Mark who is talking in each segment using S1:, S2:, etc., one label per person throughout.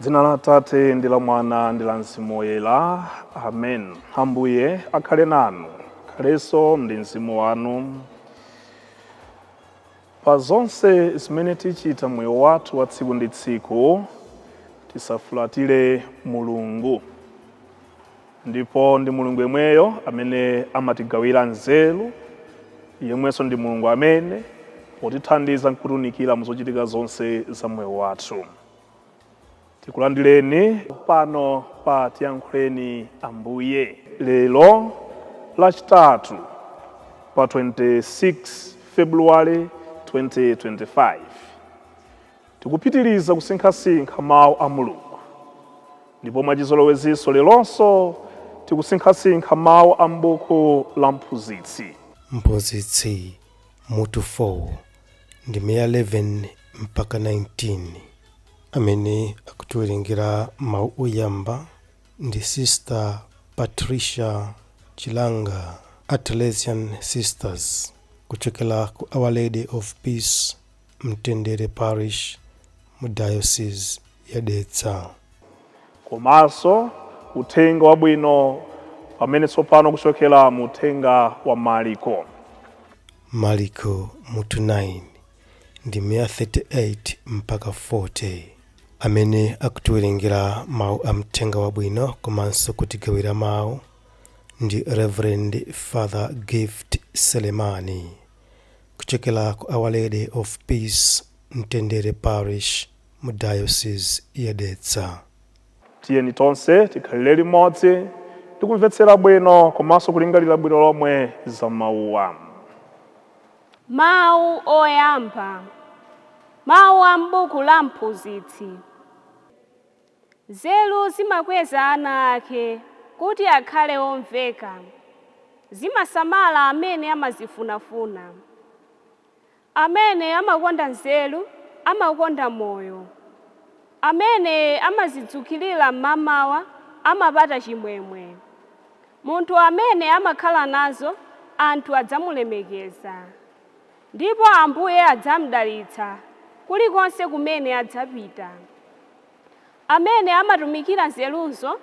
S1: dzina la tate ndi la mwana ndi la mzimu woyera amen ambuye akhale nanu akhalenso ndi mzimu wanu Pa zonse zimene tichita m'moyo wathu wa tsiku ndi tsiku, tisafulatire Mulungu. Ndipo ndi Mulungu yemweyo amene amatigawira nzeru, yemwenso ndi Mulungu amene potithandiza n'kutiunikira mu zochitika zonse za moyo wathu. tikulandireni pano pa tiyankhuleni ambuye lero lachitatu pa 26 februwale 2025 tikupitiriza kusinkhasinkha mawu a mulungu ndipo mwachizolowezinso leronso tikusinkhasinkha mawu a m'buku la mphunzitsi mphunzitsi
S2: mutu 4 ndime ya 11 mpaka 19 amene akutiwerengera mawu oyamba ndi sister patricia chilanga a teresian sisters kuchokera ku our lady of peace mtendere parish mu diocese ya dedza komanso
S1: uthenga wabwino pamene tsopano kuchokera mu uthenga wa mariko
S2: Maliko mutu 9 ndime ya 38 mpaka 40. Amene akutiwerengera mawu a Uthenga Wabwino komanso kutigawira mawu ndi Reverend Father Gift Selemani kuchokera ku Our Lady of Peace Mtendere Parish mu Diocese ya Dedza. Tiyeni
S1: tonse tikhalire limodzi ndi kumvetsera bwino komanso kulingalira bwino lomwe za mawuwa. Mawu
S3: oyamba, Mawu a m'buku la Mphunzitsi. Nzeru zimakweza ana ake kuti akhale omveka. Zimasamala amene amazifunafuna. Amene amakonda nzeru amakonda moyo, Amene amazidzukirira m'mamawa amapata chimwemwe. Munthu amene amakhala nazo anthu adzamulemekeza, ndipo Ambuye adzamudalitsa kulikonse kumene adzapita. Amene amatumikira nzeruzo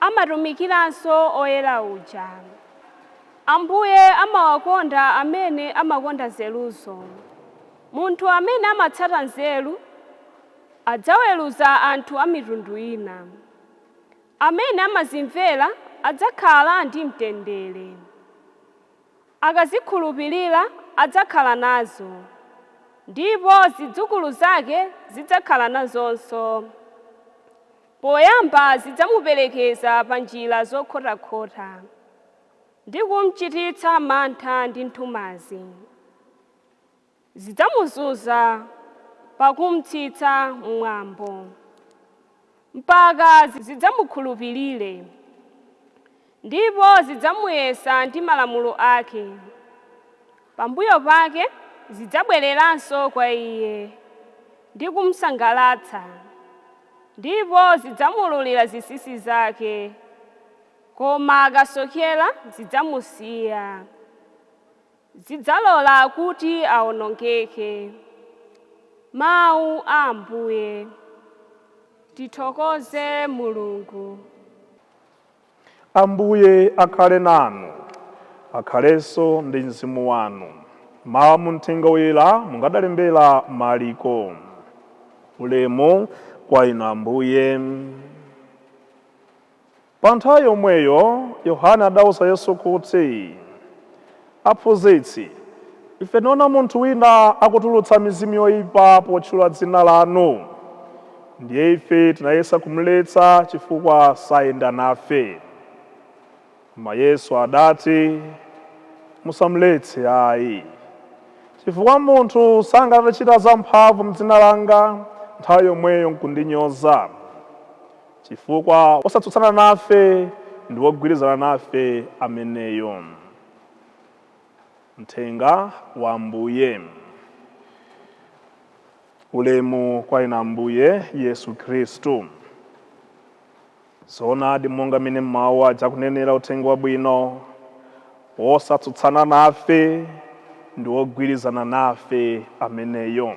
S3: amatumikiranso Woyera uja. Ambuye amawakonda amene amakonda nzeruzo. Munthu amene amatsata nzeru adzaweruza anthu a mitundu ina. Amene amazimvera adzakhala ndi mtendere. Akazikhulupirira adzakhala nazo, ndipo zidzukulu zake zidzakhala nazonso. Poyamba zidzamuperekeza pa njira zokhotakhota, ndi kumchititsa mantha ndi nthumazi. zidzamuzunza pakumchititsa mwambo, mpaka zidzamukhulupirire, ndipo zidzamuyesa ndi malamulo ake, pambuyo pake zidzabwereranso kwa iye ndi kumsangalatsa, ndipo zidzamuululira zinsinsi zake, koma akasokera zidzamusiya. zidzalola kuti awonongeke. Mawu a Ambuye. Tithokoze Mulungu.
S1: Ambuye akhale nanu. Akhalenso ndi mzimu wanu. Mawu a mu Mthenga woyera monga adalembera Maliko. Ulemu kwa Inu Ambuye. Pa nthawi yomweyo Yohane adauza Yesu kuti, Aphunzitsi, ife tinaona munthu wina akutulutsa mizimu yoipa potchula dzina lanu, ndiye ife tinayesa kumuletsa chifukwa sayenda nafe. Koma Yesu adati, Musamuletse ayi, chifukwa munthu sangathe kuchita zamphamvu m'dzina langa, nthawi yomweyo nkundinyoza. Chifukwa wosatsutsana nafe ndi wogwirizana nafe ameneyo. Mthenga wa Ambuye. Ulemu kwa Inu Ambuye Yesu Khristu. Zoonadi monga mmene mawu aja akunenera Uthenga Wabwino, wosatsutsana nafe ndi wogwirizana nafe ameneyo.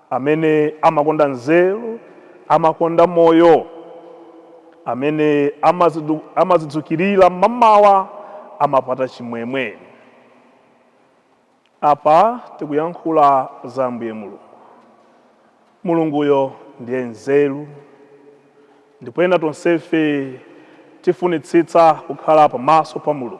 S1: Amene amakonda nzeru amakonda moyo, amene amazidzukirira mmamawa amapata chimwemwe. Apa tikuyankhula za Ambuye Mulungu. Mulunguyo ndiye nzeru, ndipo ena tonsefe tifunitsitsa kukhala pamaso pa Mulungu.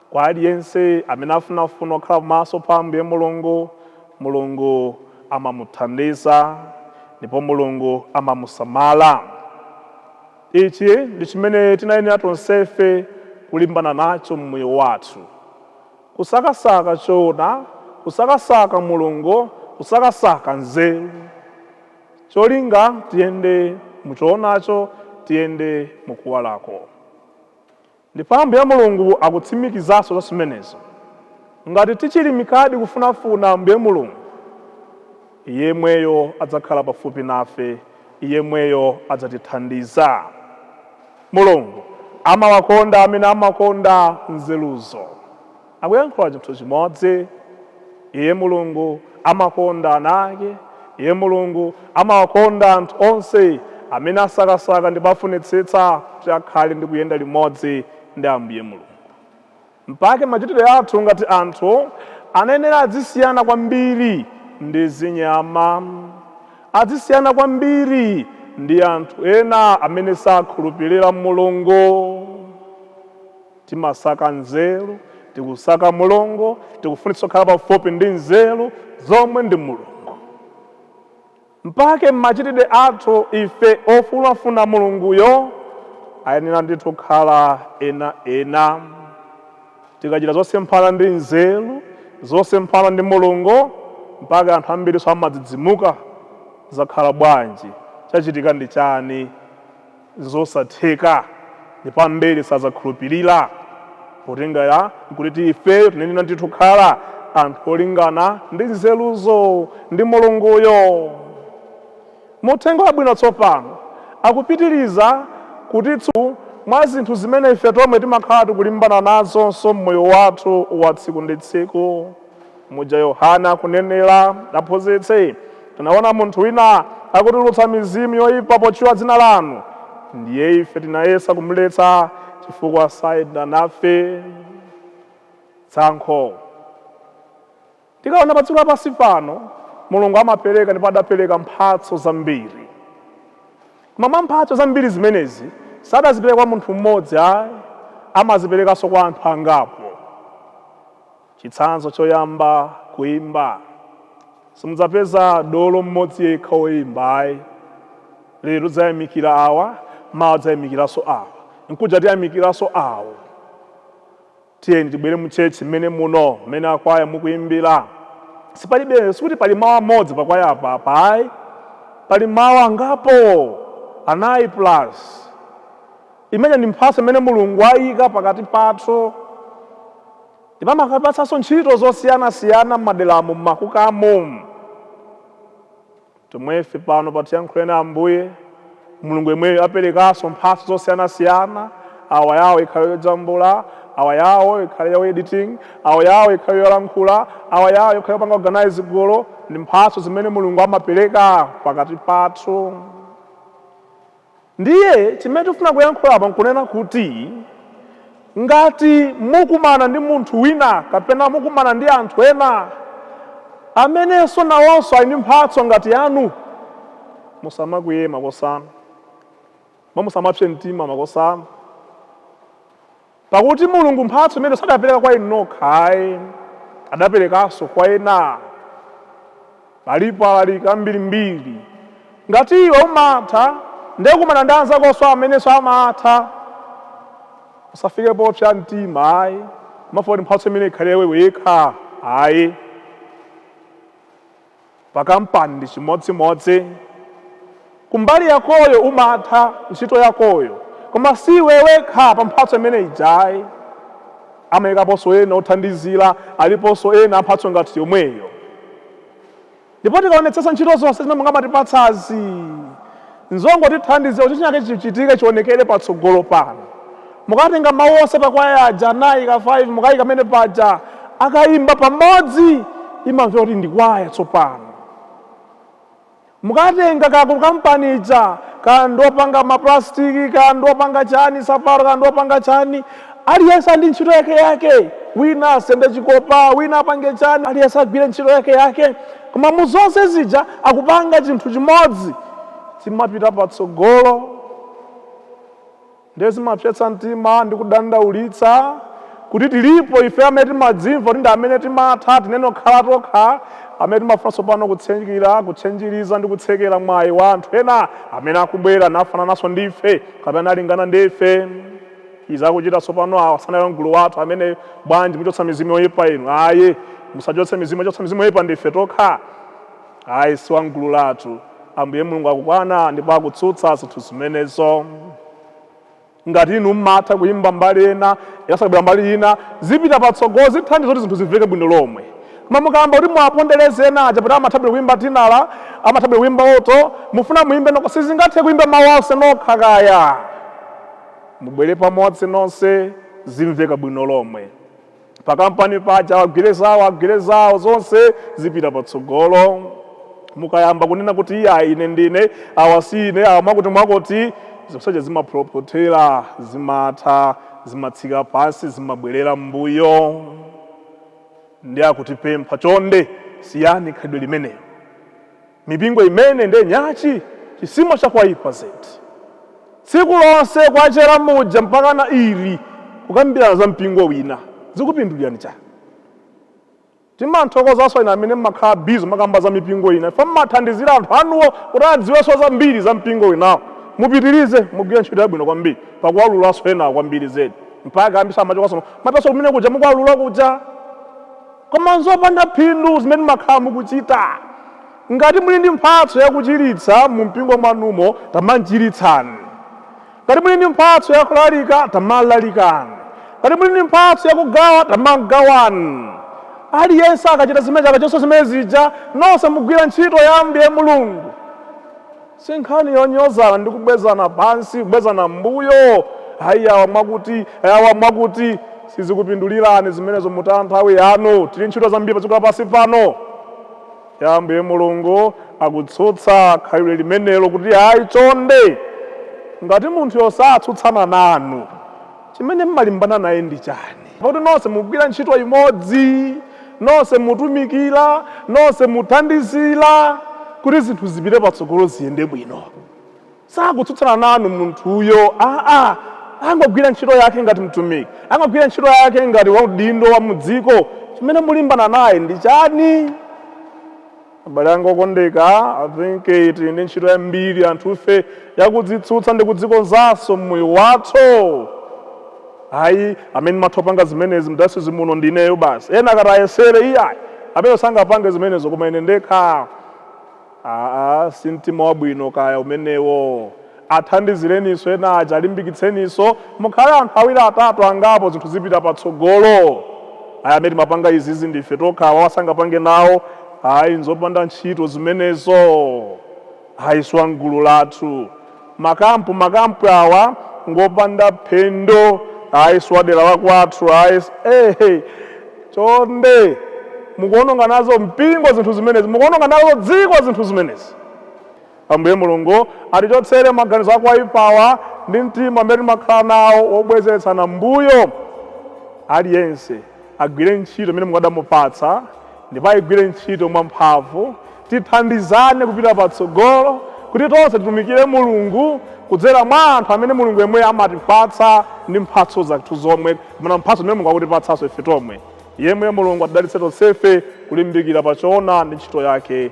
S1: Kwa aliyense amene afunafuna kukhala pamaso pa Ambuye Mulungu, Mulungu amamuthandiza ndipo Mulungu amamusamala. Ichi ndi chimene tinayenera tonsefe kulimbana nacho m'moyo wathu, kusakasaka choona, kusakasaka Mulungu, kusakasaka nzeru. Cholinga, tiyende mu choonacho, tiyende mu kuwalako. Ndipo Ambuye Mulungu akutsimikizanso za zimenezo, ngati tichirimikadi kufunafuna Ambuye Mulungu, Iyeyemweyo adzakhala pafupi nafe, Iyeyemweyo adzatithandiza. Mulungu amawakonda amene amakonda nzeruzo. Akuyankhula chinthu chimodzi. Iye, Mulungu, amakonda ana Ake. Iye, Mulungu, amawakonda anthu onse amene asakasaka ndipo afunitsitsa kuti akhale ndi kuyenda limodzi ndi Ambuye Mulungu. Mpake machitidwe athu ngati anthu anayenera adzisiyana kwambiri ndi zinyama, adzisiyana kwambiri ndi anthu ena amene sakhulupirira Mulungu. Timasaka nzeru, tikusaka Mulungu, tikufunitsa kukhala pafupi ndi nzeru, zomwe ndi Mulungu. Mpake machitidwe athu ife ofunafuna Mulunguyo ayenera ndithu kukhala ena ena. Tikachita zosemphana ndi nzeru, zosemphana ndi Mulungu, mpake anthu ambirinso amadzidzimuka, zakhala bwanji, chachitika ndi chani? Nzosatheka, ndipo ambiri sadzakhulupirira, potengera kuti ifeyo tinayenera ndithu kukhala anthu olingana ndi nzeruzo ndi Mulunguyo. Mu Uthenga Wabwino tsopano akupitiriza kutitsutsa mwa zinthu zimene ife tomwe timakhala tikulimbana nazonso m'moyo wathu wa tsiku ndi tsiku. Muja Yohane akunenera, Aphunzitsi, tinaona munthu wina akutulutsa mizimu yoipa potchula dzina lanu, ndiye ife tinayesa kumletsa chifukwa sayenda nafe. Tsankho. Tikaona padziko lapansi pano, Mulungu amapereka ndipo adapereka mphatso zambiri. Koma mwa mphatso zambiri zimenezi, sadazipereka kwa munthu mmodzi ayi, amaziperekanso kwa anthu angapo. Chitsanzo Choyamba, Kuimba. Simudzapeza dolo mmodzi yekha woimba ayi. Lero tidzayamikira awa, mawa tidzayamikiranso awa, mkuja tiyamikiranso awo. Tiyeni tibwere mu church mmene muno, mmene akwaya mukuimbira. Sipalibe, sikuti pali mawu amodzi pa kwaya apa, apa ayi. Pali mawu angapo, anayi plus. Imeneyi ndi mphatso imene Mulungu aika pakati pathu. Ndipo amakaipatsanso ntchito zosiyanasiyana m'maderamo, m'makukamo. Tomwefe pano pa Tiyankhuleni Ambuye, Mulungu yemweyo aperekanso mphatso zosiyanasiyana, awa yawo ikhale yojambula, awa yawo ikhale ya editing, awa yawo ikhale yolankhula, awa yawo ikhale yopanga organize gulu. Ndi mphatso zimene Mulungu amapereka pakati pathu. Ndiye chimene tifuna kuyankhula apa nkunena kuti ngati mukumana ndi munthu wina kapena mukumana ndi anthu ena amenenso nawonso ali ndi mphatso ngati yanu, musamakwiye makosanu, ndipo musamapse mtima makosanu. Pakuti Mulungu mphatso imeneyo sadapereka kwa inu nokha ayi, adaperekanso kwa ena. Alipo alaliki ambirimbiri. Ngati iwe umatha, ndiye kumana ndi anzakonso amenenso amatha. Usafike popsa mtima ayi, kumafuna kuti mphatso imeneyo ikhale ya iwe wekha ayi. Pa kampani ndi chimodzimodzi. Kumbali yakoyo umatha ntchito yakoyo koma si iwe wekha pa mphatso imene ija ayi. Amayikaponso ena othandizira, aliponso ena a mphatso ngati yomweyo. Ndipo tikaonetsetsa ntchito zonse zimene Mulungu amatipatsazi, Nzongotithandiza kuti chinachake chichitike chionekere patsogolo pano. Mukatenga mawu onse pa kwaya aja anayi ka 5 mukaika pamene paja, akaimba pamodzi imamva kuti ndi kwaya tsopano. Mukatenga kaya ku kampani ija, kaya ndi opanga mapulasitiki, kaya ndi opanga chani, nsapato, kaya ndi opanga chani, Aliyense ndi ntchito yake yake, wina asende chikopa, wina apange chani, aliyense agwire ntchito yake yake, koma mu zonse zija akupanga chinthu chimodzi, chimapita patsogolo. Ndiye zimapsetsa mtima ndi kudandaulitsa kuti tilipo ife amene timadzimva kuti ndi amene timatha, tinene kukhala tokha, amene timafuna tsopano kutsenjira, kutsenjiriza ndi kutsekera mwayi wa anthu ena amene akubwera nafanananso ndi ife kapena nalingana ndi ife. Izi akuchita tsopano awa sanali mgulu lathu amene bwanji muchotsa mizimu yoipa inu ayi musachotse mizimu ochotsa mizimu yoipa ndife tokha ayi si wamgulu lathu Ambuye Mulungu akukana ndipo akutsutsa zinthu zimenezo ngati inu mmatha kuyimba mbali ena akabwera mbali ina zipita patsogolo zithandiza kuti zinthu zimveke bwino lomwe koma mukayamba kuti muwapondereze ena aja poti amathabwera kuyimba tinala amathabwera kuyimba oto mufuna muyimbe nokha sizingathe kuyimba mawu onse nokha kaya Mubwere pamodzi nonse zimveka bwino lomwe. Pakampani paja awa agwire zawo agwire zawo zonse zipita patsogolo. Mukayamba kunena kuti iyayi ine ndine, awa si ine, awa mwakutimwakuti, zonsezo zimaphokothera, zimatha, zimatsika pansi, zimabwerera m'mbuyo. Ndiye akutipempha, Chonde siyani khalidwe limenelo. Mipingo imene nde nyachi chisimo chakwaipa zedi. Tsiku lonse kwachela muja mpakana mli kukambilana za mpingo wina zikupindulilani chani? Timanthokozanso inu amene mmakhala busy kumakamba za mipingo ina chifukwa mmathandizila anthu anuwo kuti adziwenso zambiri za mpingo winawo. Mupitilize mugwila ntchito yabwino kwambiri pakuwalulanso enawo kwambili zedi mpaka ambirinso amachokanso kuno kumapitanso kumene kuja mukuwalula kuja. Koma n'zopanda phindu zimene mumakhala mukuchita. Ngati muli ndi mphatso ya kuchiritsa mumpingo mwanumo, tamachiritsani. Ngati muli ndi mphatso ya kulalika, tamalalikani. Ngati muli ndi mphatso ya kugawa, tamagawani. Aliyense akachita zimene akachonso zimene zija, nonse mugwira ntchito ya Ambuye Mulungu. Si nkhani yonyozana ndi kubwezana pansi, kubwezana m'mbuyo, Ayi, awa mwakuti, awa mwakuti. Sizikupindulirani zimenezo, mutaya nthawi yanu. Tili ntchito zambiri padziko lapansi pano. Ya Ambuye Mulungu akutsutsa khalidwe limenelo, kuti, Ayi, chonde, ngati munthuyo satsutsana nanu. Chimene mmalimbana naye ndi chani? Pakuti nonse mugwira ntchito imodzi, nonse mutumikira, nonse muthandizira kuti zinthu zipite patsogolo ziyende bwino. Sakutsutsana nanu munthuyo aa, angogwira ntchito yake ngati mtumiki, angogwira ntchito yake ngati waudindo wa mu dziko. Chimene mulimbana naye ndi chani? Abale anga okondeka, I think tili ndi ntchito yambiri anthufe ya kudzitsutsa ndi kudzikonzanso m'moyo wathu. Ayi, amene ndimatha kupanga zimenezi m'dayosizi muno ndi ineyo basi. Ena akati ayesere, iyayi, amenewo sangapange zimenezo, koma ine ndekha? Aa, si mtima wabwino kaya umenewo. Athandizileninso ena aja, alimbikitseninso. Mukhale anthu awiri atatu angapo zinthu zipita patsogolo. Ayi amene timapanga izizi ndi ife tokha awawa sangapange nawo ayi nzopanda ntchito zimenezo ayi si wamgulu lathu. Ma camp ma camp awa ngopanda phindu ayi si wadera la kwathu ayi eh chonde mukuononga nazo mpingo zinthu zimenezi mukuononga nazo dziko zinthu zimenezi. Ambuye Mulungu atichotsere maganizo ako oipawa ndi mtima umene timakhala nawo wobwezeretsana mbuyo. Aliyense agwire ntchito imene Mulungu adamupatsa ndipo ayigwire ntchito mwamphamvu. Tithandizane kupita patsogolo kuti tonse titumikire Mulungu kudzera mwa anthu amene Mulungu yemweyo amatipatsa ndi mphatso zathu zomwe kapena mphatso zimene Mulungu akutipatsanso ife tomwe. Yemweyo Mulungu atidalitse tonsefe kulimbikira pa choona ndi ntchito yake.